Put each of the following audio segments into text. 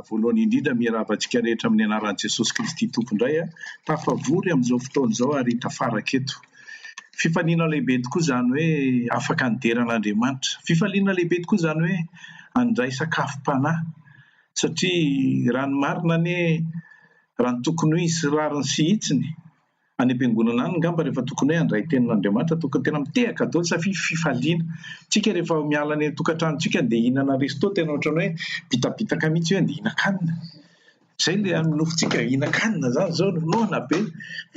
Voalohany indrindra, miarahaba antsika rehetra amin'ny anaran'i Jesosy Kristy Tompo indray. Tafavory amin'izao fotoana izao ary tafaraka eto. Fifaliana lehibe tokoa izany hoe afaka nidera an'Andriamanitra. Fifaliana lehibe tokoa izany hoe handray sakafom-panahy. Satria raha ny marina anie, raha ny tokony ho izy sy rariny sy hitsiny, any am-piangonana any ngamba rehefa tokony hoe handray tenin' Andriamanitra tokony tena mitehaka daholo sa fi fifaliana tsika rehefa miala any an-tokantranontsika andeha hihinana resto tena ohatran'ny hoe bitabitaka mihitsy hoe andeha hihinan-kanina zay le amin'ny nofontsika hihinan-kanina zany zao no noana be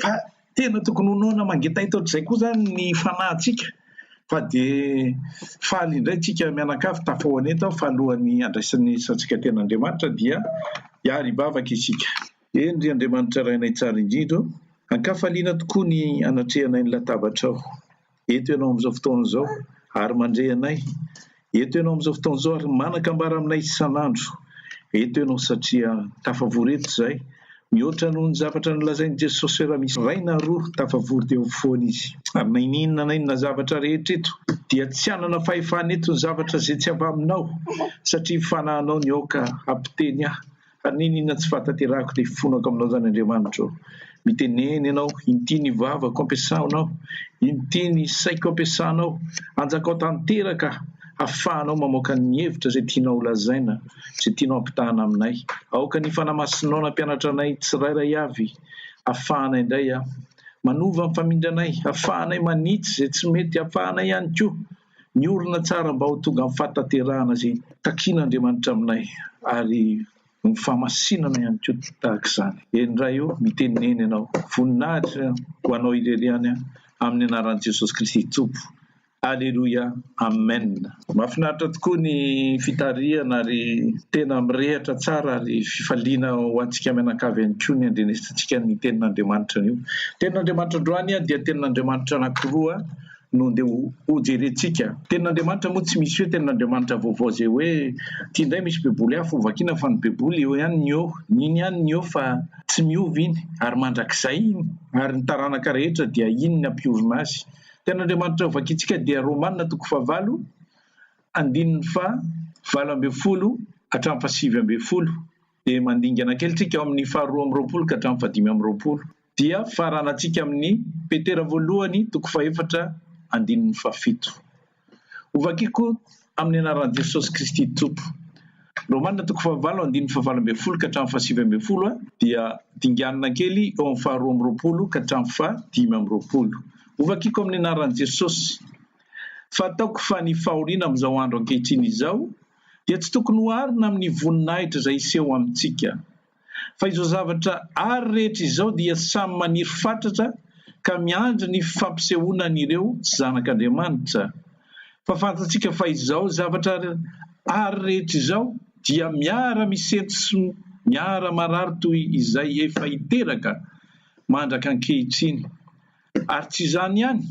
fa tena tokony ho noana mangetaita ohatr'izay koa zany ny fanahintsika fa dia faly indray tsika mianakavy tafahoan'eto aho fa alohan'ny andraisan'ny isantsika tena Andriamanitra dia hiaribavaka isika Eny, ry Andriamanitra Rainay Tsara Indrindra ô, ankafaliana tokoa ny anatrehanay ny latabatrao. Eto Ianao amin'izao fotoana izao, ary mandre anay. Eto Ianao amin'izao fotoana izao, ary manan-kambara aminay isan'andro. Eto Ianao satria tafavory eto izahay, mihoatra noho ny zavatra nolazain'i Jesosy hoe raha misy iray na roa tafavory dia ao afovoany Izy. Ary na inona na inona zavatra rehetra eto, dia tsy hanana fahefana eto ny zavatra izay tsy avy Aminao, satria ny Fanahinao niaoka hampiteny ahy. Ary ny inona tsy fahatanterahako dia fonako aminao izany Andriamanitra ô. Mitenena ianao, inty ny vavako ampiasaonao, inty ny saiko ampiasanao, anjakao tanteraka hafahanao mamoaka ny hevitra izay tianao holazaina, izay tianao hampitahana aminay. Aoka ny Fanahy Masinao nampianatra anay tsirairay avy hafahana indray aho. Manova ny famindranay, hafahanay manitsy izay tsy mety, hafahanay ihany koa ny orina tsara mba ho tonga amin'ny fahatanterahana izay takian'Andriamanitra aminay ary ny fahamasinana ihany koa tahaka izany. Eny Ray o, mitenenena Ianao. Voninahitra ho Anao irery ihany an, amin'ny anaran'i Jesosy Kristy Tompo. Aleloia, Amen. Mahafinaritra tokoa ny fitarihana ary tena mirehatra tsara ary fifaliana ho antsika mianakavy ihany koa ny andrenesantsika ny tenin'Andriamanitra anio. Tenin'Andriamanitra androany dia tenin'Andriamanitra anankiroa. no andeha ho jerentsika. Tenin'Andriamanitra moa tsy misy hoe tenin'Andriamanitra vaovao izay hoe ity indray misy baiboly hafa ho vakiana fa ny baiboly eo ihany ny eo ny iny ihany ny eo fa tsy miova iny ary mandrakizay iny ary ny taranaka rehetra dia iny ny ampiorina azy. Tenin'Andriamanitra ho vakintsika dia Romana toko fahavalo andininy faha valo ambin'ny folo hatramin'ny faha sivy ambin'ny folo. dia mandingana kely tsika ao amin'ny faharoa amby roapolo ka hatramin'ny fahadimy amby roapolo dia faranantsika amin'ny Petera voalohany toko fahefatra andininy fahafito. Hovakiko amin'ny anaran'i Jesosy Kristy Tompo. Romana toko fahavalo andininy fahavalo ambin'ny folo ka hatramin'ny fahasivy ambin'ny folo a dia dinganina kely eo amin'ny faharoa amby roapolo ka hatramin'ny fahadimy amby roapolo. Hovakiko amin'ny anaran'i Jesosy. Fataoko fa ny fahoriana amin'izao andro ankehitriny izao dia tsy tokony oharina amin'ny voninahitra izay hiseho amintsika. Fa izao zavatra àry rehetra izao dia samy maniry fatratra ka miandry ny fampisehoana an'ireo tsy zanak'Andriamanitra. Fa fantatsika fa izao zavatra àry rehetra izao dia miara-misento sy miara-marary toy izay efa hiteraka mandraka ankehitriny. Ary tsy izany ihany,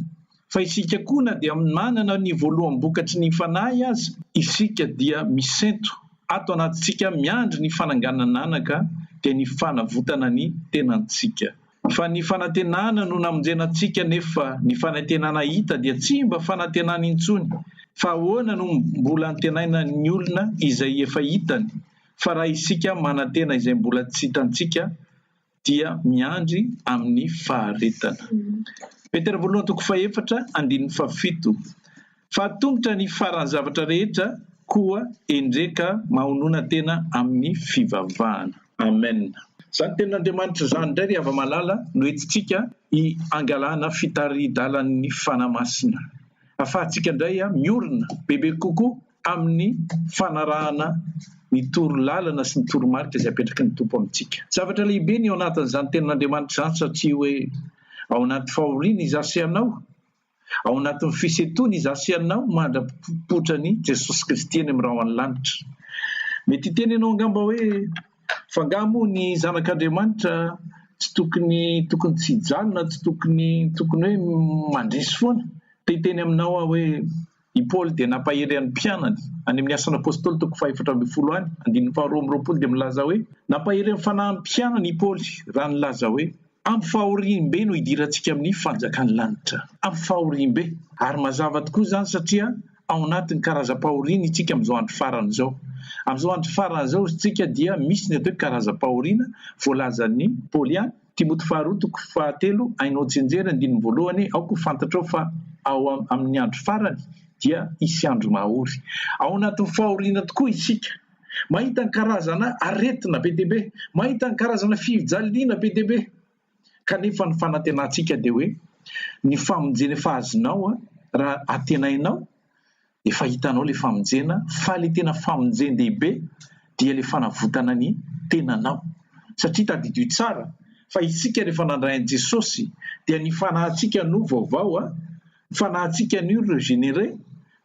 fa isika koa na dia manana ny voaloham-bokatry ny fanahy aza, isika dia misento ato anatintsika miandry ny fananganan'anaka, dia ny fanavotana ny tenantsika. Fa ny fanantenana no namonjena antsika nefa ny fanantenana hita dia tsy mba fanantenana intsony, fa ahoana no mbola antenaina ny olona izay efa hitany, fa raha isika manantena izay mbola tsy hitantsika dia miandry amin'ny faharetana. Petera voalohany toko fahefatra andininy fahafito, Fa atombotra ny faran'ny zavatra rehetra, koa endreka mahonona tena amin'ny fivavahana. Amen. Izany tenin'Andriamanitra izany indray ry hava-malala no entintsika hiangalana fitari-dalan'ny Fanahy Masina. Afahantsika indray miorina bebe kokoa amin'ny fanarahana ny toro lalana sy ny toro marika izay apetraky ny Tompo amintsika. Zavatra lehibe ny ao anatin'izany tenin'Andriamanitra izany satria hoe ao anaty fahoriana izaho sy ianao, ao anatin'ny fisentoana izaho sy ianao mandra-pipoitra ny Jesosy Kristy eny amin'ny rahon'ny lanitra. Mety hiteny ianao angamba hoe fa ngaha moa ny zanak'Andriamanitra tsy tokony tokony tsy hijanona, tsy tokony tokony hoe mandresy foana. Te hiteny aminao aho hoe I Paoly dia nampahery an'ny mpianany. Any amin'ny Asan'ny Apôstôly toko fahefatra ambin'ny folo any, andininy faharoa amby roapolo dia milaza hoe, Nampahery amin'ny fanahin'ny mpianany i Paoly raha nilaza hoe, Amin'ny fahoriam-be no idirantsika amin'ny fanjakan'ny lanitra. Amin'ny fahoriam-be. Ary mazava tokoa izany satria ao anatin'ny karazam-pahoriana isika amin'izao andro farany izao. Amin'izao andro farany izao isika dia misy ny atao hoe karazam-pahoriana voalazan'i Paoly any. Timoty faharoa toko fahatelo, Hainao tsinjery andininy voalohany, aoka ho fantatrao fa ao amin' ny andro farany dia hisy andro mahory. Ao anatin' ny fahoriana tokoa isika. Mahita ny karazana aretina be dia be. Mahita ny karazana fijaliana be dia be. Kanefa ny fanantenantsika dia hoe ny famonjena efa azonao raha antenainao efa hitanao ilay famonjena fa ilay tena famonjen-dehibe dia ilay fanavotana ny tenanao satria tadidio tsara fa isika rehefa nandray an'i Jesosy dia ny fanahintsika no vaovao a fanahintsika anio ireo généré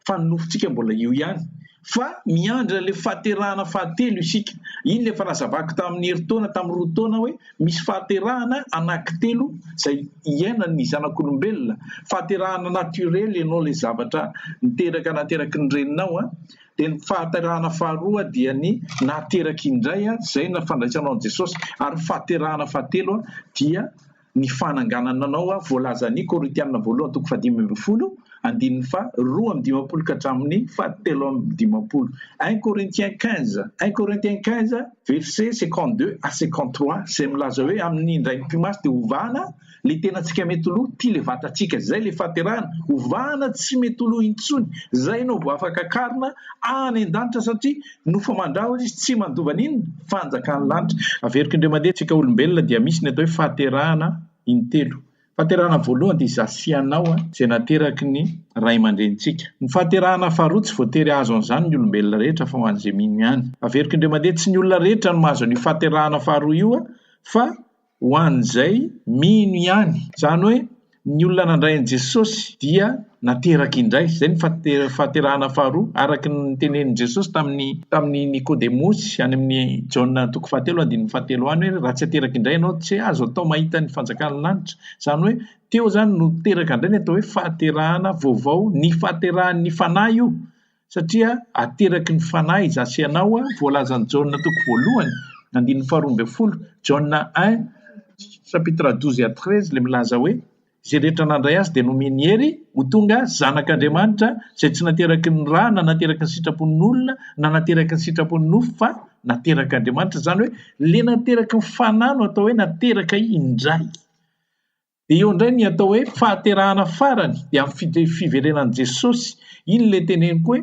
fa ny nofontsika mbola io ihany fa miandry ilay fahaterahana fahatelo isika iny ilay efa nazavako tamin'ny herintaona tamin'ny roa taona hoe Misy fahaterahana anakitelo izay iainan'ny zanak'olombelona, fahaterahana naturel ianao ilay zavatra niteraka nateraky ny reninao an, dia ny fahaterahana faharoa dia ny nahateraky indray izay ny fandraisanao an'i Jesosy ary ny fahaterahana fahatelo dia ny fananganana anao voalazan'ny Korintiana voalohany toko fahadimy ambin'ny folo, andininy faha roa amby dimampolo ka hatramin'ny faha telo amby dimampolo, un Corinthiens quinze, un Corinthiens quinze verset cinquante deux à cinquante trois, izay milaza hoe amin'ny indray ny mpimasy dia hovahana le tenantsika mety ho lo, tia le vatantsika, izay le fahaterahana, hovahana tsy mety ho lo intsony, izay no vao afaka karina any an-danitra satria nofa mandrahona izy tsy mandova ny inona? fanjakan'ny lanitra. Averiko indray mandeha, tsika olombelona dia misy ny atao hoe fahaterahana intelo, Fahaterahana voalohany dia izaho sy ianao izay nateraky ny ray aman-drenintsika. Ny fahaterahana faharoa tsy voatery hahazo an'izany ny olombelona rehetra fa ho an'izay mino ihany. Averiko indray mandeha, tsy ny olona rehetra no mahazo an'io fahaterahana faharoa io fa ho an'izay mino ihany. Izany hoe ny olona nandray an'i Jesosy dia. nateraka indray. Izay ny fahaterahana faharoa. Araka ny notenenin'i Jesosy tamin'i tamin'i Nikodemosy any amin'ny Jaona toko fahatelo andininy fahatelo any hoe raha tsy ateraka indray ianao tsy azo atao mahita ny fanjakan'ny lanitra. Izany hoe teo izany no teraka indray ny atao hoe fahaterahana vaovao. Ny fahaterahan'ny Fanahy io satria ateraky ny Fanahy izaho sy ianao. Voalazan'i Jaona toko voalohany andininy faharoa ambin'ny folo, Jaona un chapitre douze à treize, ilay milaza hoe Izay rehetra nandray azy dia nomeny hery ho tonga zanak'Andriamanitra, izay tsy nateraky ny ra na nateraky ny sitrapon'ny olona na nateraky ny sitrapon'ny nofo fa naterak'Andriamanitra. Izany hoe ilay nateraky ny fanahy no atao hoe nateraka indray. Dia eo indray ny atao hoe fahaterahana farany, dia amin'ny fiverenan'i Jesosy. Iny ilay teneniko hoe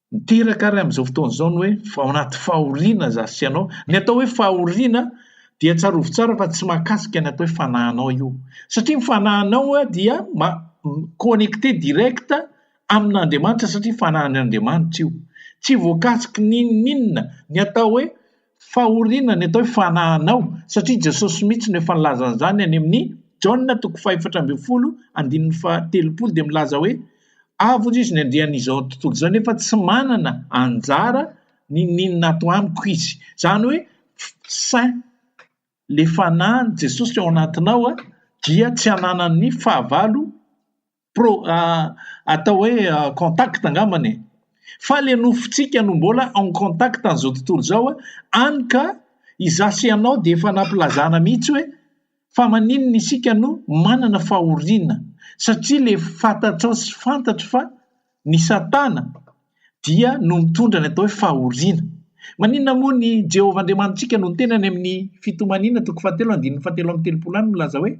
Miteraka ary amin'izao fotoana izao ny hoe fa ao anaty fahoriana izaho sy ianao. Ny atao hoe fahoriana dia tsarovy tsara fa tsy mahakasika ny atao hoe fanahinao io. Satria ny fanahinao dia ma- connecté direct amin'Andriamanitra satria fanahin'Andriamanitra io. Tsy voakasiky n'inon'inona. Ny atao hoe Fahoriana ny atao hoe fanahinao, satria Jesosy mihitsy no efa nilaza an'izany any amin'ny Jaona toko fahefatra ambin'ny folo andininy fahatelopolo dia milaza hoe avy hozy izy ny andrian'izao tontolo izao nefa tsy manana anjara n'inon'inona ato amiko izy. Izany hoe saint le fanahin'i Jesosy ao anatinao dia tsy ananan'ny fahavalo. pro atao hoe contact angambany e! fa le nofontsika no mbola en contact an'izao tontolo izao a, any ka izaho sy ianao dia efa nampilazana mihitsy hoe fa maninona isika no manana fahoriana satria le fantatrao sy fantatro fa ny satana dia no mitondra ny atao hoe fahoriana. Maninona moa ny Jehovah Andriamanitsika no tena any amin'ny fitomaniana toko fahatelo andininy fahatelo amby telopolo any milaza hoe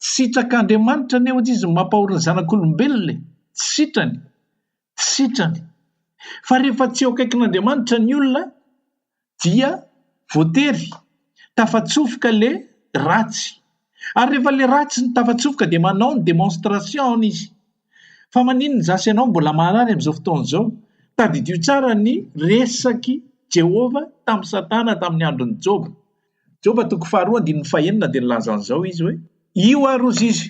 Tsy sitrak'Andriamanitra anie ohatra izy ny mampahory ny zanak'olombelona e! Tsy sitrany! Tsy sitrany! Fa rehefa tsy eo akaikin'Andriamanitra ny olona dia voatery tafatsofoka le ratsy. Ary rehefa le ratsy ny tafatsofoka dia manao ny demonstration izy. Fa maninona zasy ianao mbola maharary amin'izao fotoana izao? Tadidio tsara ny resak'i Jehovah tamin'i Satana tamin'ny andron'i Joba. Joba toko faharoa andininy fahenina dia nilaza an'izao izy hoe, Io ary hozy izy,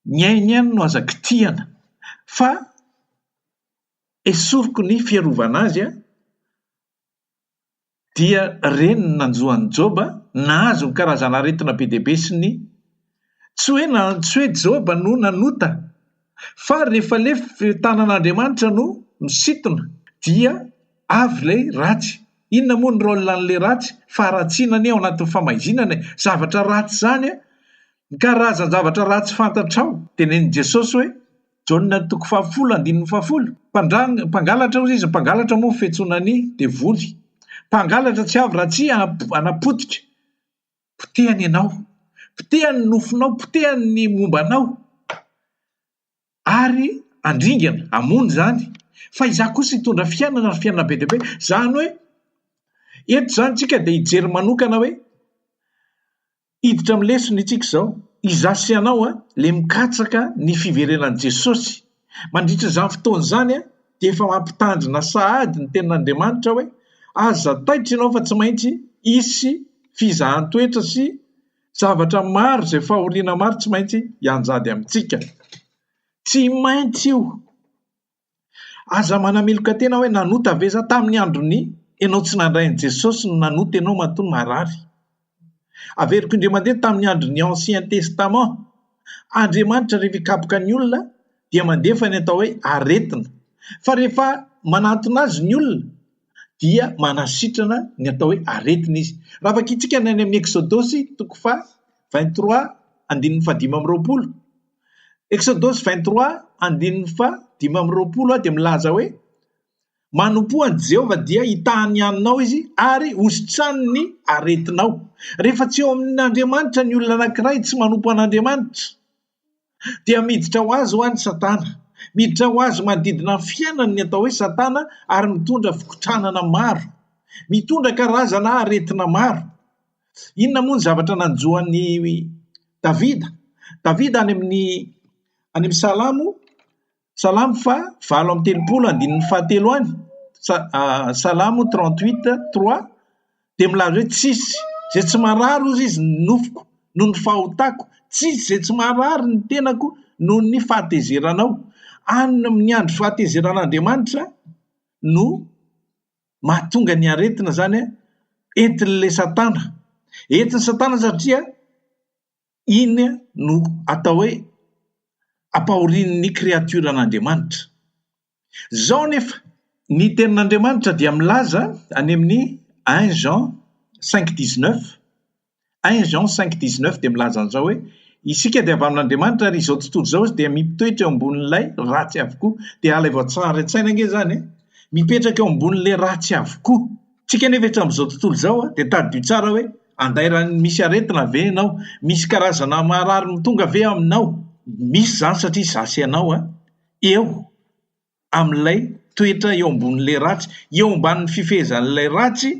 ny ainy ihany no aza kitihana, fa esoriko ny fiarovana azy dia reniny nanjo an'i Joba, nahazo ny karazan'aretina be dia be sy ny Tsy hoe na, tsy hoe Joba no nanota, fa rehefa ilay tanan'Andriamanitra no misintona, dia avy ilay ratsy. Inona moa ny rôle an'ilay ratsy? Faharatsiana anie ao anatin'ny famaizinana e! Zavatra ratsy izany an! Ny karazan-javatra ratsy fantatrao! Tenenin'i Jesosy hoe. Jaona toko fahafolo andininy fahafolo, Mpandrang, mpangalatra hozy izy, mpangalatra moa fetsoana ny devoly. Mpangalatra tsy avy raha tsy hanapotika. Potehany ianao. Potehany ny nofinao, potehany ny momba anao. Ary andringana, hamono izany. Fa izaho kosa hitondra fiainana ary fiainana be dia be. Izany hoe, eto izany tsika dia hijery manokana hoe, Hiditra amin'ny lesona itsika izao. Izaho sy ianao ilay mikatsaka ny fiverenan'i Jesosy. Mandritra izany fotoana izany dia efa mampitandrina sahady ny Tenin'Andriamanitra hoe, Aza taitra ianao fa tsy maintsy hisy fizahan-toetra sy zavatra maro izay fahoriana maro tsy maintsy hianjady amintsika. Tsy maintsy io. Aza manamiloka tena hoe nanota ve za tamin'ny andron'ny enao tsy nandray an'i Jesosy no nanota enao matoa marary. Averiko indray mandeha tamin'ny andron'ny ancien testament. Andriamanitra rehefa hikapoka ny olona dia mandefa ny atao hoe aretina. Fa rehefa manantona azy ny olona dia manasitrana ny atao hoe aretina izy. Raha vakintsika ny any amin'ny eksodosy toko fa 23 andininy fahadimy amby roapolo. Exodosy vingt trois andininy faha dimy amby roapolo dia milaza hoe, Manompoa an'i Jehovah dia hitaha ny haninao izy ary hositrany ny aretinao. Rehefa tsy eo amin'Andriamanitra ny olona anankiray tsy manompo an'Andriamanitra, dia miditra ho azy ho'a ny Satana. Miditra ho azy manodidina ny fiainany ny atao hoe Satana ary mitondra fikotranana maro. Mitondra karazana aretina maro. Inona moa ny zavatra nanjo an'i Davida? Davida any amin'ny any amin'ny Salamo, Salamo faha valo amby telopolo andininy fahatelo any, Salamo trente huit trois dia milaza hoe tsisy izay tsy marary hozy izy ny nofoko noho ny fahotako, tsisy izay tsy marary ny tenako noho ny fahatezeranao, any amin'ny andro fahatezeran'Andriamanitra no Mahatonga ny aretina izany entin'ilay satana. Entin'ny satana satria iny no atao hoe ampahorian'ny kreatioran'Andriamanitra. Izao anefa, ny Tenin'Andriamanitra dia milaza any amin'ny un Jean cinq dix neuf 1 Jean cinq dix neuf dia milaza an'izao hoe, Isika dia avy amin'Andriamanitra ary izao tontolo izao izy dia miptoetra eo ambonin'ilay ratsy avokoa. Dia alaivo an-tsary an-tsaina ange izany e! Mipetraka eo ambonin'ilay ratsy avokoa. Tsika anefa eto amin'izao tontolo izao dia tadidio tsara hoe, andairan'ny misy aretina ve ianao? Misy karazana maharary mitonga ve aminao? Misy izany satria izaho sy ianao an, eo. amin'ilay toetra eo ambonin'ilay ratsy, eo ambanin'ny fifehezan'ilay ratsy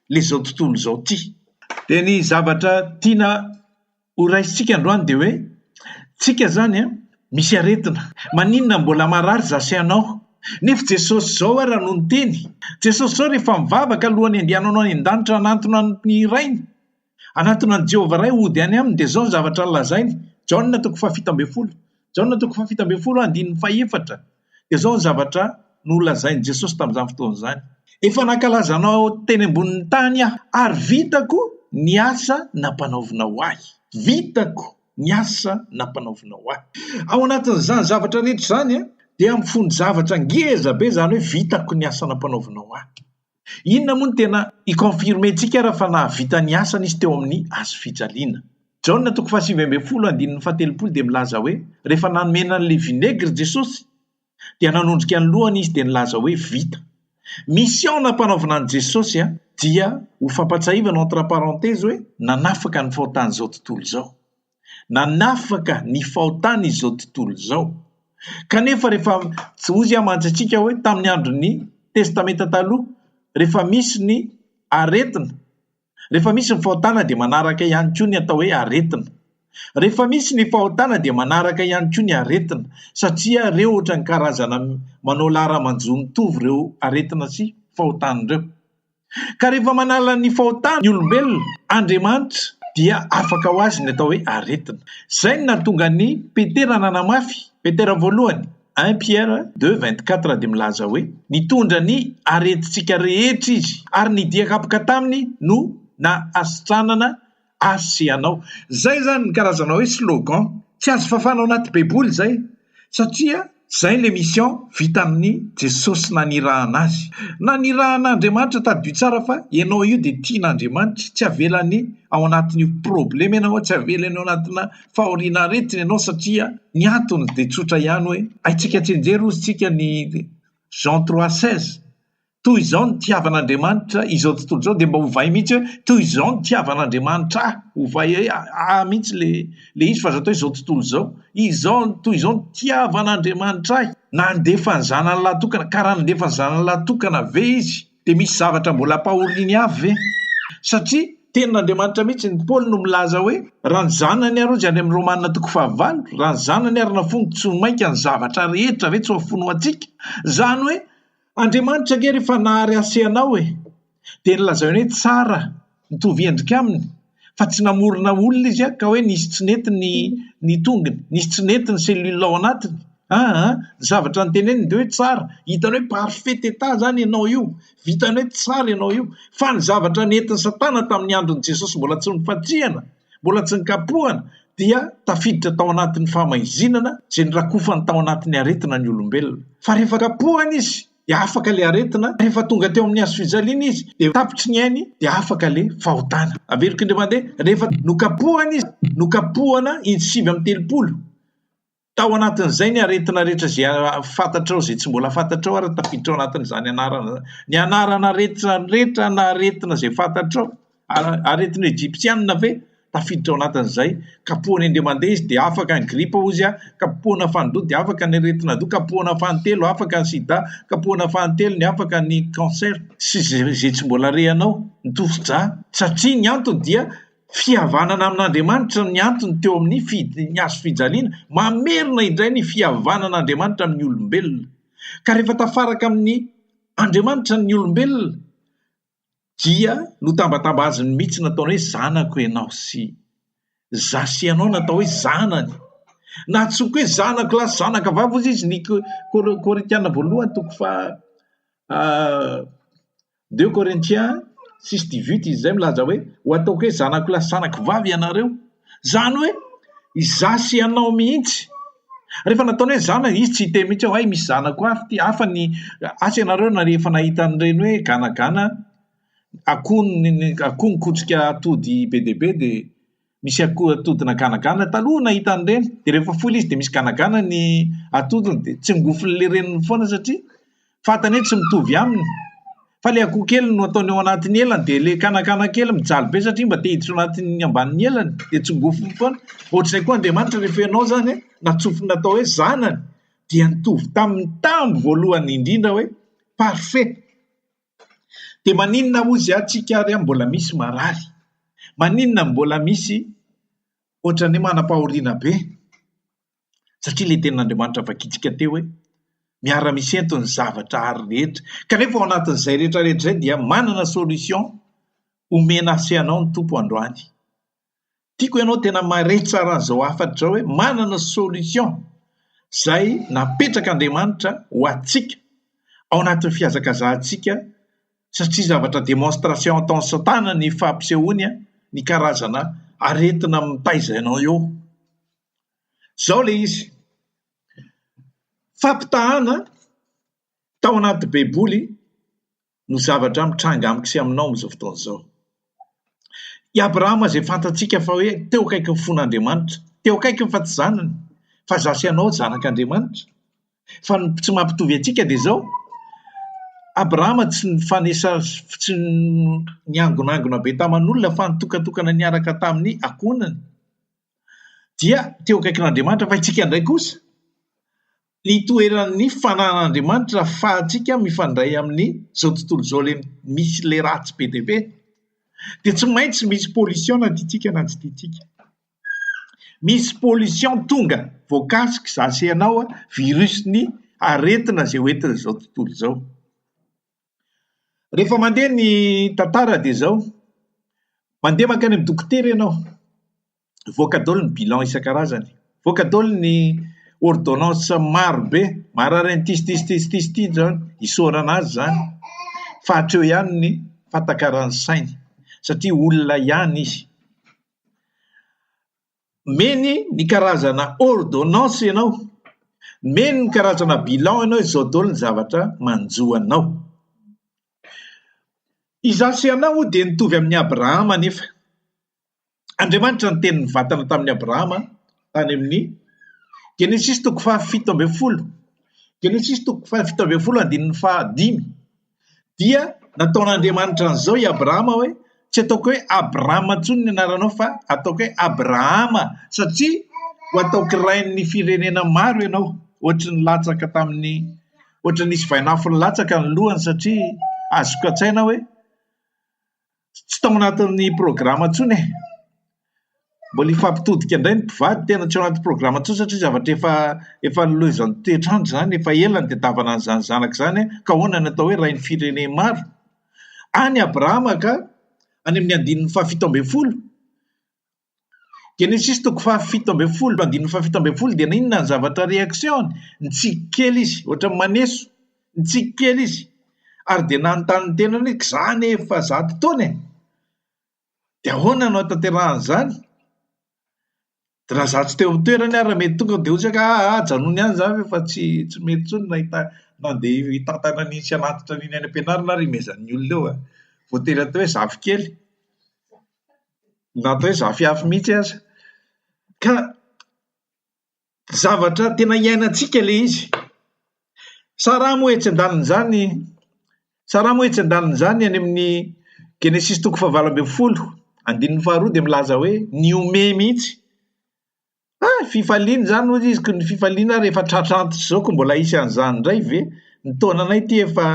ilay izao tontolo izao ity. Dia ny zavatra tiana horaisintsika androany dia hoe, tsika izany an, misy aretina, maninona mbola marary izaho sy ianao? Nefa Jesosy izao ara no niteny, Jesosy izao rehefa mivavaka alohan'ny andehananao any an-danitra hanantona ny Rainy, Hanatona an'i Jehovah Ray hody any aminy, dia izao ny zavatra lazainy, Jaona toko fahafito ambin'ny folo, Jaona toko fahafito ambin'ny folo andininy fahefatra, dia izao ny zavatra nolazain'i Jesosy tamin'izany fotoana izany, Efa nankalaza anao teny ambonin'ny tany aho, ary vitako ny asa nampanaovinao ahy. Vitako ny asa nampanaovinao ahy. Ao anatin'izany zavatra rehetra izany dia mifono zavatra ngezabe, izany hoe vitako ny asa nampanaovinao ahy. Inona moa no tena hi-confirmer-ntsika ary fa nahavita ny asany izy teo amin'ny Hazo fijaliana? Jaona toko fahasivy ambin'ny folo andininy fahatelopolo dia milaza hoe, Rehefa nanomena an'ilay vinaigre Jesosy, dia nanondrika ny lohany izy dia nilaza hoe, Vita. Mission nampanaovina an'i Jesosy a, dia ho fampatsiahivana entre parenthèses hoe, nanafaka ny faotan'izao tontolo izao. nanafaka ny fahotany izao tontolo izao. Kanefa rehefa tsy hozy aho mantsy antsika hoe tamin'ny andron'ny testamenta taloha rehefa misy ny aretina rehefa misy ny fahotana dia manaraka ihany koa ny atao hoe aretina. Rehefa misy ny fahotana dia manaraka ihany koa ny aretina satria ireo ohatran'ny karazana manao laharamanjo mitovy ireo aretina sy fahotana ireo. Ka rehefa manala ny fahotany ny olombelona, Andriamanitra dia afaka ho azy ny atao hoe aretina. Izay no nahatonga an'i Petera nanamafy, Petera voalohany, un Pierre deux vingt quatre dia milaza hoe, Nitondra ny aretintsika rehetra izy, ary ny dian-kapoka taminy no nahasitranana Azy sy ianao. Zay zany ny karazana hoe slogan. Tsy azo fafana ao anaty baiboly zay satria zay le mission vita amin'ny Jesosy nanirahana azy. Nanirahana Andriamanitra tadidio tsara fa ianao io dia tian'Andriamanitra, tsy avelany ao anatin'io probleme ianao, tsy avelany ao anatina fahoriana aretina ianao satria ny antony dia tsotra ihany hoe haintsika tsinjery ozy tsika ny Jean trois seize toy izao ny tiavan'Andriamanitra izao tontolo izao dia mba hovay mihitsy hoe toy izao ny tiavan'Andriamanitra ahy, hovay hoe ahy mihitsy le le izy fa aza atao izao tontolo izao, izao toy izao ny tiavan'Andriamanitra ahy, nandefa ny zanany lahy tokana, ka raha nandefa ny zanany lahy tokana ve izy dia misy zavatra mbola ampahoriany avy ve? Satria tenin'Andriamanitra mihitsy ny Paoly no milaza hoe raha ny zanany ary hozy any amin'ny Romana toko fahavalo, raha ny zanany ary nafoiny tsy ho mainka ny zavatra rehetra ve tsy ho afoiny ho antsika? Izany hoe Andriamanitra ange rehefa nahary hasehanao e, dia nolazainy hoe tsara, mitovy endrika aminy, fa tsy namorona olona izy ka hoe nisy tsy nety ny ny tongony, nisy tsy nety ny cellule ao anatiny, ah ah, ny zavatra noteneniny dia hoe tsara, hitany hoe parfait état izany ianao io, vitany hoe tsara ianao io, fa ny zavatra nentin'i satana tamin'ny andron'i Jesosy mbola tsy nofantsihana, mbola tsy nikapohana dia tafiditra tao anatin'ny fahamaizinana izay nirakofany tao anatin'ny aretina ny olombelona. Fa rehefa kapohana izy dia afaka ilay aretina, rehefa tonga teo amin'ny hazo fijaliana izy dia tapitry ny ainy dia afaka ilay fahotana. Averiko indray mandeha, rehefa nokapohana izy, nokapohana intsy sivy amby telopolo, Tao anatin'izay ny aretina rehetra izay fantatrao, izay tsy mbola fantatrao ary tafiditra ao anatin'izany anarana izany. Ny anaran'aretina rehetra na aretina izay fantatrao, aretina egyptiana ve? Tafiditra ao anatin'izay. Kapohina indray mandeha izy dia afaka ny gripa hozy aho, kapohina fanin-droa dia afaka ny aretin'adoha, kapohina fanin-telo afaka ny sida, kapohina fanin-telo ny afaka ny cancer sy izay tsy mbola rehanao ny tosi-dra. Satria ny antony dia Fihavanana amin'Andriamanitra ny antony teo amin'ny fidiny ny hazo fijaliana, mamerina indray ny fihavanan'Andriamanitra amin'ny olombelona. Ka rehefa tafaraka amin'ny Andriamanitra ny olombelona dia notambatamba aziny mihitsy nataony hoe zanako ianao sy zasy ianao natao hoe zanany. Nahantsoiko hoe zanako lahy sy zanaka vavy hozy izy ny Korintiana voalohany toko fa Deux Corinthiens six dix huit izy izay milaza hoe, Ho ataoko hoe zanako lahy sy zanako vavy ianareo. Izany hoe, izaho sy ianao mihitsy. Rehefa nataony hoe zanako, izy tsy hiteny mihitsy hoe, hay misy zanako hafa ity, hafa ny, asa ianareo na rehefa nahita an'ireny hoe ganagana akoho, akoho mikotrika atody be dia be dia misy akoho atody naganagana taloha nahita an'ireny dia rehefa foy ilay izy dia misy ganagana ny atodiny dia tsingofin'ilay reniny foana satria fantany hoe tsy mitovy aminy fa ilay akoho kely no ataony ao anatin'ny elany dia ilay ganagana kely mijaly be satria mba te hiditra ao anatin'ny ambanin'ny elany dia tsingofiny foana ohatr'izay koa Andriamanitra rehefa ianao izany hoe natsofina atao hoe zanany dia nitovy tamin'ny tambo voalohany indrindra hoe parfait Dia maninona hozy aho tsika ary aho mbola misy marary? Maninona mbola misy ohatran'ny hoe manam-pahoriana be? Satria ilay tenin'Andriamanitra vakintsika teo hoe miara-misento ny zavatra ary rehetra. Kanefa ao anatin'izay rehetra rehetra izay dia manana solution omena sy anao ny Tompo androany. Tiako ianao tena mahay tsara an'izao hafatra izao hoe manana solution izay napetrak'Andriamanitra ho antsika ao anatin'ny fihazakazahantsika satria zavatra demonstration ataon'i Satana ny fampisehoany ny karazana aretina mitaiza anao eo. Izao ilay izy. Fampitahana tao anaty Baiboly no zavatra mitranga amiko sy aminao amin'izao fotoana izao. I Abrahama izay fantatsika fa hoe teo akaikin'ny fon'Andriamanitra, teo akaikiny fa tsy zanany, fa izaho sy ianao zanak'Andriamanitra. Fa ny tsy mampitovy antsika dia izao, Abrahama tsy nifanesa tsy niangonangona be taman'olona fa nitokantokana niaraka tamin'ny ankohonany, dia teo akaikin'Andriamanitra, fa itsika indray kosa ny toeran'ny fananan'Andriamanitra ahafahantsika mifandray amin'izao tontolo izao misy ilay ratsy be dia be dia tsy maintsy misy pollution na tiantsika na tsy tiantsika. Misy pollution tonga voakasika za sy ianao, virus-ny aretina izay hoentin'izao tontolo izao. Rehefa mandeha ny tantara dia izao, mandeha mankany amin'ny dokotera ianao, mivoaka daholo ny bilan isan-karazany, mivoaka daholo ny ôrdônansa maro be, marary an'ity sy ity sy ity sy ity sy ity izany, isaorana azy izany fa hatreo ihany ny fahatakaran'ny sainy satria olona ihany izy. Nomeny ny karazana ôrdônansy ianao, nomeny ny karazana bilan ianao, izao daholo ny zavatra manjo anao. Izaho sy ianao dia nitovy amin'i Abrahama anefa. Andriamanitra niteny nivantana tamin'i Abrahama tany amin'ny Genesisy toko fahafito ambin'ny folo, Genesisy toko fahafito ambin'ny folo andininy fahadimy. Dia nataon'Andriamanitra an'izao i Abrahama hoe tsy ataoko hoe Abrama intsony ny anaranao fa ataoko hoe Abrahama satria ho ataoko rain'ny firenena maro ianao. Ohatry ny latsaka tamin'ny ohatry nisy vainafo nilatsaka ny lohany satria azoko an-tsaina hoe tsy tao anatin'ny programa intsony e! Mbola hifampitodika indray ny mpivady, tena tsy ao anaty programa intsony satria zavatra efa efa nolaozan'ny toetr'andro izany, efa ela ny ditavana an'izany zanaka izany an! Ka ahoana ny atao hoe rain'ny firenen maro? Any Abrahama ka, any amin'ny andininy fahafito ambin'ny folo, Genesisy toko fahafito ambin'ny folo andininy fahafito ambin'ny folo dia inona ny zavatra reaction-ny? Nitsiky kely izy, ohatran'ny maneso, nitsiky kely izy, ary dia nanontany ny tenany hoe k'za anie efa zato taona e! dia ahoana no hanatanterahany izany? dia raha za tsy teo amin'ny toerany ary raha mety tonga dia hoy isika ah ah ajanony any izany fa efa tsy tsy mety intsony ny nahita nandeha hitantana an'iny sy hanatitra an'iny any am-pianarana ary imezan'ny olona eo an! voatery atao hoe zafikely. na atao hoe zafiafy mihitsy aza. Ka zavatra tena iainantsika ilay izy. Sa raha moa etsy an-danin'izany, sa raha moa etsy an-danin'izany any amin'ny Genesisy toko fahavalo ambin'ny folo, andininy faharoa dia milaza hoe, nihomehy mihitsy. Ha! fifaliana izany hoy izy ko ny fifaliana ary efa tratra antitra izao ko mbola hisy an'izany indray ve? ny taonanay ity efa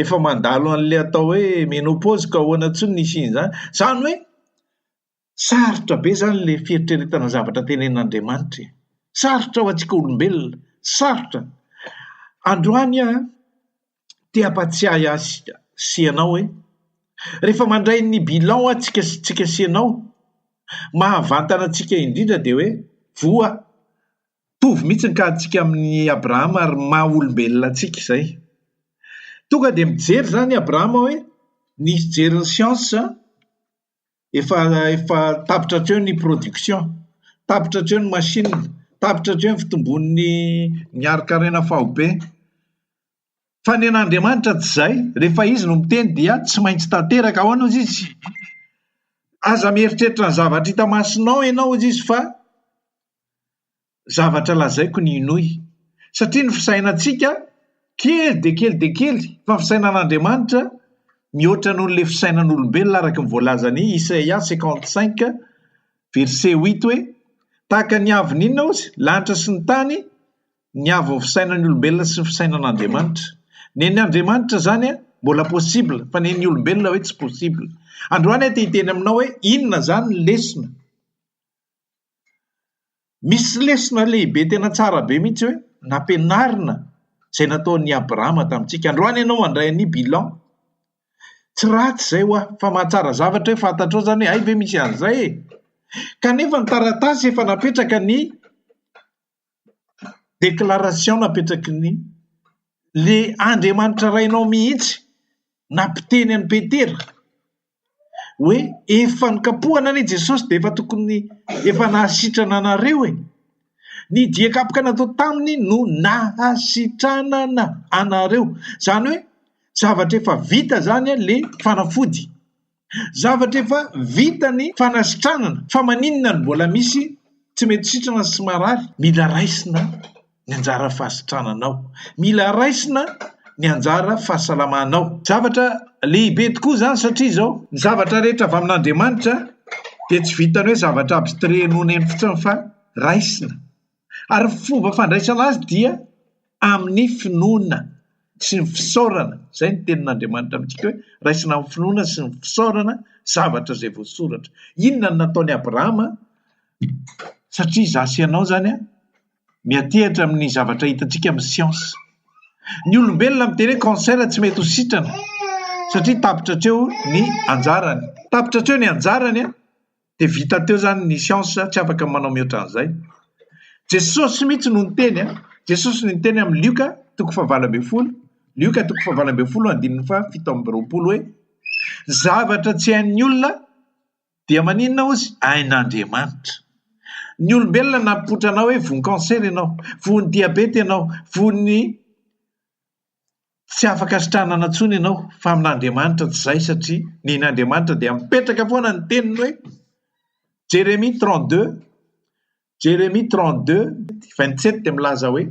efa mandalo an'ilay atao hoe menopause ka ahoana intsony ny hisian'izany? izany hoe sarotra be izany ilay fieritreretana ny zavatra tenen'Andriamanitra e! sarotra ho antsika olombelona, sarotra, androany aho an, te hampatsiahy ahy sy ianao hoe rehefa mandray ny bilan aho tsika sy tsika sy ianao, mahavantana antsika indrindra dia hoe voa tovy mihitsy ny kahantsika amin'i Abrahama ary maha olombelona antsika izay. Tonga dia mijery izany i Abrahama hoe nisy jerin'ny siansa efa efa tapitra hatreo ny production, tapitra hatreo ny machine, tapitra hatreo ny fitomboan'ny ny harin-karena faobe. Fa ny an'Andriamanitra tsy izay, rehefa izy no miteny dia tsy maintsy tanteraka, ahoana hozy izy, aza mieritreritra ny zavatra hita masonao ianao hozy izy fa zavatra lazaiko ny hinoy, satria ny fisainantsika kely dia kely dia kely, fa ny fisainan'Andriamanitra mihoatra noho ilay fisainan'olombelona araka ny voalazan'i Isaia cinquante cinq verset huit hoe, Tahaka ny avon'ny inona hozy? lanitra sy ny tany, ny avon'ny fisainan'ny olombelona sy ny fisainan'Andriamanitra. Nen'ny Andriamanitra izany mbola possible, fa nen'ny olombelona hoe tsy possible. Androany aho te hiteny aminao hoe inona izany ny lesona? Misy lesona lehibe tena tsara be mihitsy hoe nampianarina izay nataon'i Abrahama tamintsika. Androany ianao mandray an'io bilan. Tsy ratsy izay ho'a, fa mahatsara zavatra hoe fantatrao izany hoe hay ve misy an'izay e! Kanefa ny taratasy efa napetraka ny Déclaration napetraky ny le Andriamanitra Rainao mihitsy nampiteny an'i Petera hoe efa nokapohana anie Jesosy dia efa tokony efa nahasitrana anareo e! Ny dia kapoka natao taminy no nahasitranana anareo. Izany hoe zavatra efa vita izany le fanafody. Zavatra efa vita ny fanasitranana fa maninona no mbola misy tsy mety sitrana sy marary? Mila raisina ny anjara fahasitrananao, mila raisina ny anjara fahasalamanao. Zavatra lehibe tokoa izany satria izao, ny zavatra rehetra avy amin'Andriamanitra dia tsy vitan'ny hoe zavatra abstrait noneno fotsiny fa raisina. Ary ny fomba fandraisana azy dia amin'ny finoana sy ny fisaorana. Izay ny tenin'Andriamanitra amintsika hoe, raisina amin'ny finoana sy ny fisaorana zavatra izay voasoratra. Inona no nataon'i Abrahama? Satria izaho sy ianao izany miantehitra amin'ny zavatra hitantsika amin'ny siansa. Ny olombelona miteny hoe cancer tsy mety ho sitrana satria tapitra hatreo ny anjarany. Tapitra hatreo ny anjarany. Dia vita teo izany ny siansa, tsy afaka manao mihoatra an'izay. Jesosy mihitsy no niteny a! Jesosy no niteny amin'ny Lioka toko fahavalo ambin'ny folo, Lioka toko fahavalo ambin'ny folo andininy fahafito amby roapolo hoe, ny zavatra tsy hain'ny olona dia maninona hozy? Hain'Andriamanitra. Ny olombelona nampipoitra anao hoe voan-cancer ianao, voan'ny diabeta ianao, voan'ny Tsy afaka sitranana intsony ianao fa amin'Andriamanitra tsy izay satria ny ain'Andriamanitra dia mipetraka foana ny teniny hoe Jeremia trente deux Jeremia trente deux vingt sept dia milaza hoe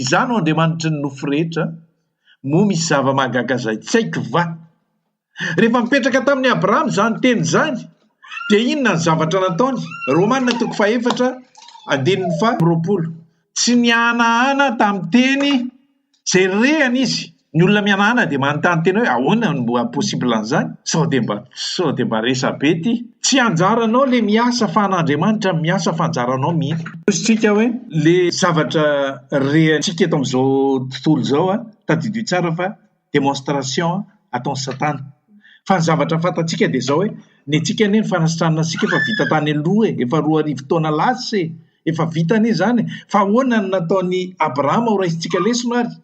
izaho no Andriamanitry ny nofo rehetra moa misy zava-mahagaga izay tsy haiko va? Rehefa mipetraka tamin'i Abrahama izany teny izany, dia inona ny zavatra nataony? Romana toko fahefatra andininy faharoapolo. Tsy nihanahana tamin'ny teny izay rerehana izy. Ny olona mihanahana dia manontany tena hoe ahoana no mba possible an'izany? Sao dia mba sao dia mba resabe ity? Tsy anjaranao ilay miasa fa an'Andriamanitra no miasa fa anjaranao mihitsy. Hosotsika hoe ilay zavatra rerentsika eto amin'izao tontolo izao, tadidio tsara fa. demonstration ataon'i satana fa ny zavatra fantatsika dia izao hoe ny antsika anie ny fanasitranana antsika efa vita tany aloha e, efa roa arivo taona lasa e, efa vita anie izany e, fa ahoana ny nataon'i Abrahama ho raisintsika lesona ary?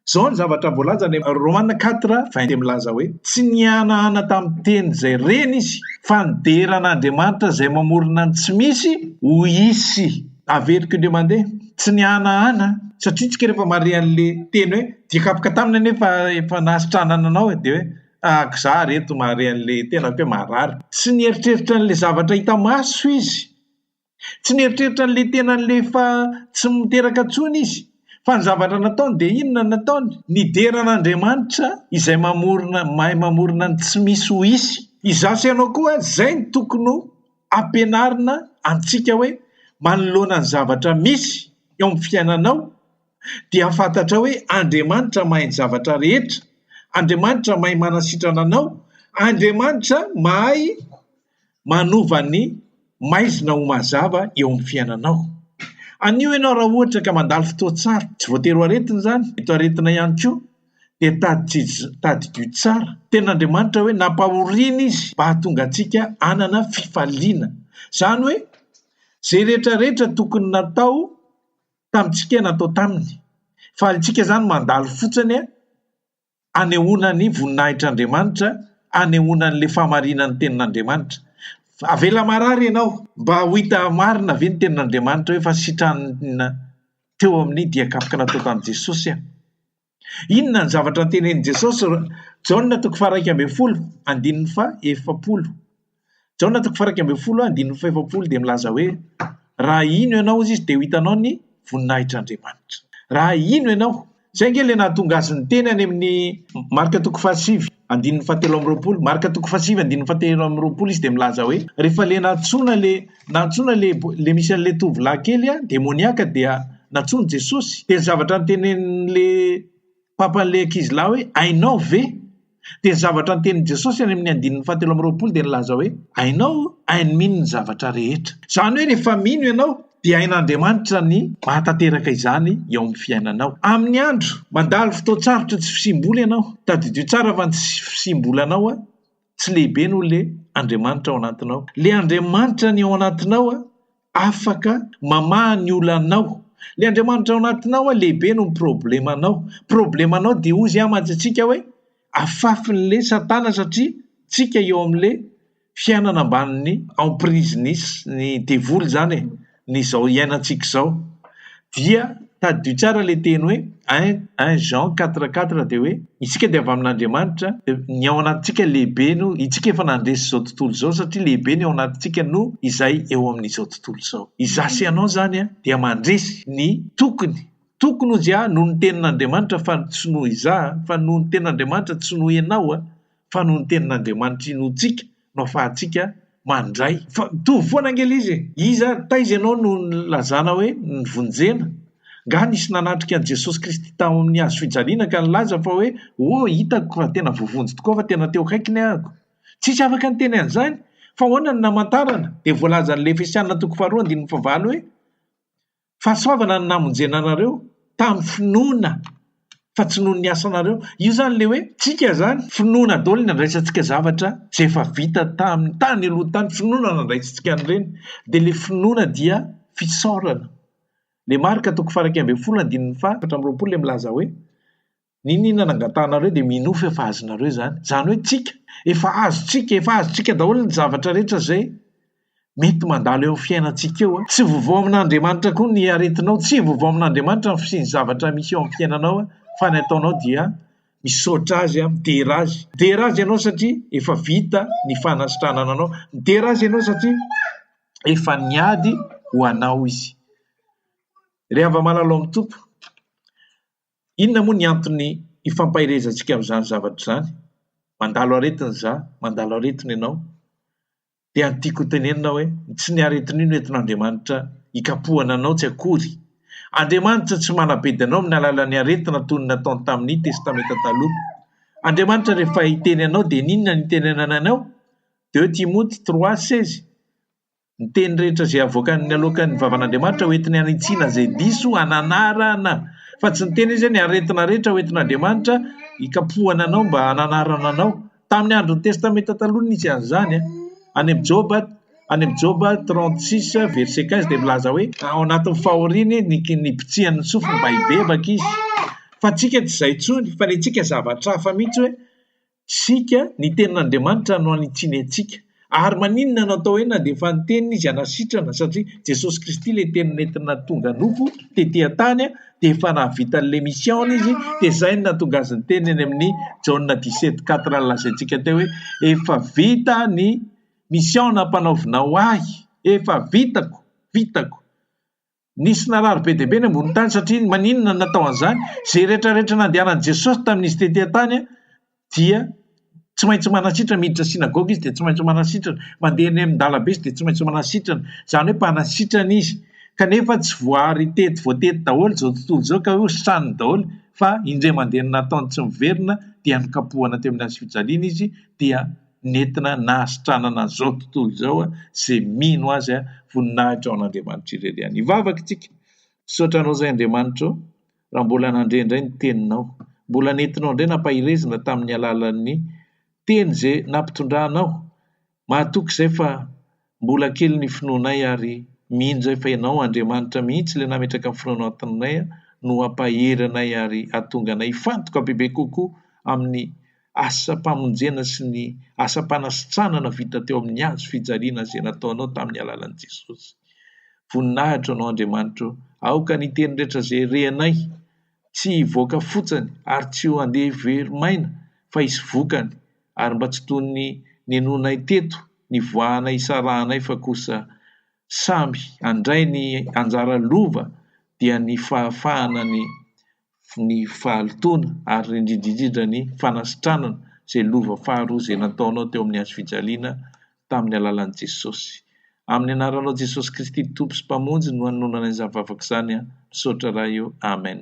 Izao ny zavatra voalaza any amin'ny Romana quatre vingt dia milaza hoe tsy nihanahana tamin'ny teny izay reny izy fa nidera an'Andriamanitra izay mamorona ny tsy misy ho hisy. Averiko indray mandeha, tsy nihanahana aho satria isika rehefa mahare an'ilay teny hoe dia kapoka taminy anie fa efa nahasitranana anao e, dia hoe tahaka izaho ary eto mahare an'ilay tenako hoe marary. Tsy nieritreritra an'ilay zavatra hita maso izy. Tsy nieritreritra an'ilay tenan'ilay efa tsy miteraka intsony izy. Fa ny zavatra nataony dia inona no nataony? Nidera an'Andriamanitra izay mamorona, mahay mamorona ny tsy misy ho hisy. Izaho sy ianao koa, izay no tokony ho. ampianarina antsika hoe manoloana ny zavatra misy eo amin'ny fiainanao dia fantatrao hoe Andriamanitra mahay ny zavatra rehetra, Andriamanitra mahay manasitrana anao, Andriamanitra mahay manova ny maizina ho mazava eo amin'ny fiainanao. Anio ianao raha ohatra ka mandalo fotoan-tsarotra, tsy voatery ho aretina izany, mety ho aretina ihany koa, dia tadidio tsara tena Andriamanitra hoe nampahoriana izy mba hahatonga antsika hanana fifaliana. Izany hoe izay rehetra rehetra tokony natao tamintsika natao taminy. Falintsika izany mandalo fotsiny anehoana ny voninahitr'Andriamanitra, anehoana an'ilay fahamarinan'ny tenin'Andriamanitra. Avela marary ianao mba ho hita marina ve ny tenin'Andriamanitra hoe fa sitrana teo amin'ny dian-kapoka natao tamin'i Jesosy aho. Inona ny zavatra notenenin'i Jesosy? Jaona toko faharaika ambin'ny folo, andininy fa efapolo. Jaona toko faharaika ambin'ny folo, andininy fa efapolo dia milaza hoe raha hino ianao izy dia ho hitanao ny voninahitr'Andriamanitra. Raha hino ianao, Izay ange ilay nahatonga azy niteny any amin'ny Marka toko fahasivy andininy fahatelo amby roapolo, Marka toko fahasivy andininy fahatelo amby roapolo izy dia milaza hoe, rehefa ilay nantsoina ilay nantsoina ilay ilay misy an'ilay tovolahy kely an, demoniaka dia nantsoin'i Jesosy, dia ny zavatra notenenin'ilay Papan'ilay ankizilahy hoe, hainao ve? Dia ny zavatra notenin'i Jesosy any amin'ny andininy fahatelo amby roapolo dia nilaza hoe, Hainao, hainy mino ny zavatra rehetra. Izany hoe rehefa mino ianao dia hain'Andriamanitra ny mahatanteraka izany eo amin'ny fiainanao. Amin'ny andro, mandalo fotoan-tsarotra tsy fisiam-bola ianao. Tadidio tsara fa ny tsy fisiam-bolanao tsy lehibe noho ilay Andriamanitra ao anatinao. Ilay Andriamanitra ny ao anatinao afaka mamaha ny olanao. Ilay Andriamanitra ao anatinao lehibe noho ny problemanao. Problemanao dia hoy Izy mantsy antsika hoe afafin'ilay satana satria tsika eo amin'ilay fiainana ambanin'ny emprise-n'ny devoly izany e, ny izao iainantsika izao. Dia tadidio tsara ilay teny hoe un un Jean quatre quatre dia hoe isika dia avy amin'Andriamanitra dia ny ao anatintsika lehibe no isika efa nandresy izao tontolo izao satria lehibe ny ao anatintsika noho izay eo amin'izao tontolo izao. Izaho sy ianao izany an dia mandresy ny tokony tokony ho izy an noho ny tenin'Andriamanitra fa tsy noho izaho an fa noho ny tenin'Andriamanitra tsy noho ianao an. fa noho ny tenin'Andriamanitra inoantsika no afahantsika mandray. Fa mitovy foana ange izy e! Iza ary taiza ianao no nilazana hoe nivonjena? Nga nisy nanatrika an'i Jesosy Kristy tao amin'ny hazofijaliana ka nilaza fa hoe oh hitako fa tena voavonjy tokoa fa tena teo akaikiny ahako? Tsisy afaka niteny an'izany! Fa ahoana no namantarana? Dia voalazan'ilay Efesiana toko faharoa andininy fahavalo hoe Fahasoavana no namonjena anareo tamin'ny finoana fa tsy noho ny asanareo. Io izany ilay hoe tsika izany, finoana daholo ny andraisantsika zavatra izay efa vita tamin'ny tany aloha tany, finoana no andraisantsika an'ireny. Dia ilay finoana dia fisaorana. Ilay Marka toko faha iraika ambin'ny folo andininy faha efatra amby roapolo dia milaza hoe, N'inon'inona nangatahanareo dia minoa fa efa azonareo izany. Izany hoe tsika, efa azontsika, efa azontsika daholo ny zavatra rehetra izay mety mandalo eo amin'ny fiainantsika eo. Tsy vovao amin'Andriamanitra koa ny aretinao, tsy vovao amin'Andriamanitra ny fisian'ny zavatra misy eo amin'ny fiainanao, fa ny ataonao dia misaotra Azy, midera Azy. Midera Azy ianao satria efa vita ny fanasitranana anao. Midera Azy ianao satria efa niady ho anao Izy. Ry hava malalao amin'ny Tompo, Inona moa ny antony ifampaherezantsika amin'izany zavatra izany? Mandalo aretina izaho, mandalo aretina ianao, dia ny tiako hotenenina aho hoe, ny tsy ny aretin'io no entin'Andriamanitra hikapohana anao tsy akory. Andriamanitra tsy manabedy anao amin'ny alalan'ny aretina toy ny nataony tamin'ny Testamenta Taloha. Andriamanitra rehefa hiteny anao dia ny inona no itenenany anao? Deux Timote trois seize. Ny teny rehetra izay avoakany aloakan'ny vavan'Andriamanitra hoentiny hanitsiana izay diso hananarana, fa tsy niteny Izy hoe ny aretina rehetra hoentin'Andriamanitra hikapohana anao mba hananarana anao. Tamin'ny andron'ny Testamenta Taloha no nisy an'izany. Any amin'ny Joba, any amin'ny Joba 36 verset 15 dia milaza hoe ao anatin'ny fahoriany ny nibitsihan'ny sofiny mba hibebaka izy. Fa antsika tsy izay intsony, fa ny antsika zavatra hafa mihitsy hoe Isika, ny tenin'Andriamanitra no hanitsiany antsika. Ary maninona no atao hoe nandeha fa ny teniny izy hanasitrana? Satria Jesosy Kristy ilay teny nentina tonga nofo tety an-tany dia efa nahavita an'ilay mission-ny izy dia izay no nahatonga azy niteny any amin'ny Jaona dix sept quatre ny lazaintsika teo hoe efa vita ny mission nampanaovinao ahy, efa vitako, vitako. Nisy narary be dia be ny ambonin-tany satria maninona no natao an'izany? Izay rehetra rehetra nandehanan'i Jesosy tamin'izy tety an-tany dia tsy maintsy manasitrana, miditra synagoga izy dia tsy maintsy manasitrana, mandeha eny amin-dalam-be izy dia tsy maintsy manasitrana, izany hoe mpanasitrana izy, kanefa tsy voaary tety voatety daholo izao tontolo izao ka hoe hosaniny daholo fa indray mandeha nataony tsy miverina dia nokapohana teo amin'ny hazofijaliana izy dia nentina nahasitranana an'izao tontolo izao izay mino azy voninahitra ao an'Andriamanitra irery ihany. Hivavaka isika, Misaotra anao izay Andriamanitra o, raha mbola nandre indray ny teninao. Mbola nentinao indray nampahirezina tamin'ny alalan'ny teny izay nampitondranao. Mahatoky izay fa Mbola kely ny finoanay ary mino zay fa ianao Andriamanitra mihitsy le nametraka ny finoanao antananay a no hampahery anay ary hahatonga anay hifantoka bebe kokoa amin'ny asam-pamonjena sy ny asam-panasitranana vita teo amin'ny hazo fijaliana zay nataonao tamin'ny alalan'i Jesosy. Voninahitra anao Andriamanitra o! Aoka ny teny rehetra zay rehanay tsy hivoaka fotsany ary tsy ho andeha very maina fa hisy vokany ary mba tsy toy ny ninoanay teto nivoahana hisarahanay fa kosa samy handray ny anjara lova dia ny fahafahana ny ny fahalotoana ary indridridridra ny fanasitranana izay lova faharoa izay nataonao teo amin'ny hazofijaliana tamin'ny alalan'i Jesosy. Amin'ny anaranao Jesosy Kristy Tompo sy Mpamonjy no anononanay izany vavaka izany an, misaotra Ray ô, Amen.